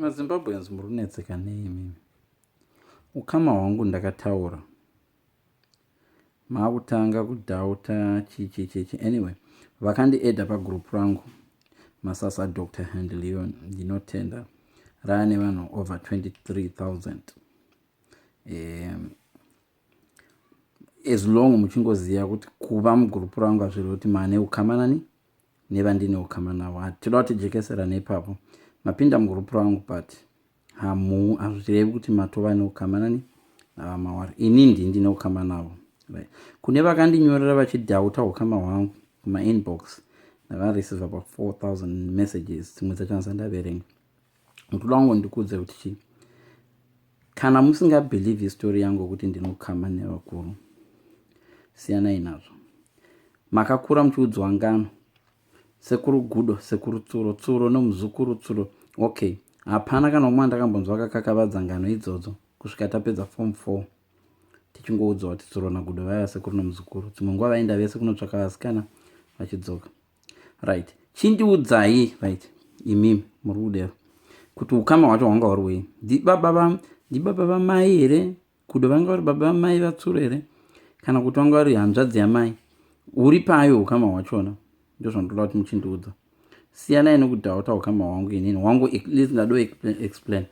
mazimbabweans muri kunetseka nei imimi ukama hwangu ndakataura maakutanga kudhauta chichichichi anyway vakandiedha pagroup rangu masasa dr handleon ndinotenda raya nevanhu over 23000 um, as long muchingoziva kuti kuva mugroup rangu hazviroti mane ukamanani nevandine ukama navo hati toda kuti jekeserane ipapo mapinda mugroup rangu but hamuu hazvirevi kuti matova neukama nani navamawari ini ndi ndine ukama navo right. kune vakandinyorera vachidhauta ukama hwangu kumainbox ndakareceiva pa 4000 messages dzimwe dzacho handisandaverenga ndoda kungondikuudza kuti chii kana musingabhilivhi istori yangu yokuti ndinokama nevakuru siyanai nazvo makakura muchiudzwa ngano sekuru gudo sekuru tsuro tsuro nomuzukuru tsuro okay hapana kana umwe andakambonzwa akakakavadza ngano idzodzo kusvika tapedza form four tichingoudzwa kuti tsuro nagudo vaiva sekuru nomuzukuru dzimwe nguva vaenda vese kunotsvaka vasikana vachidzoka right chindiudzai right imi muri kudero kuti ukama hwacho hwanga huri wei ndibaba vamai here kudo vanga vari baba vamai vatsuro here kana kuti vanga vari hanzvadzi yamai uri payo ukama hwachona ndo zvandoda kuti muchindiudza siyanai nekudhauta ukama hwangu inini hwangu least ndado explain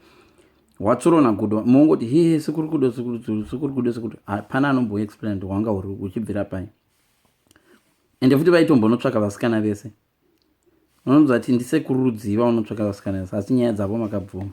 watsuro nagudo mongoti hehe sekuri kudo sekuri kudo sekuri hapana anomboexplain kuti hwanga uchibvira pai ende futi vaitombonotsvaka vasikana vese vanonzwa ti ndisekuru rudziva unotsvaka vasikana vese asi nyaya dzavo makabvuma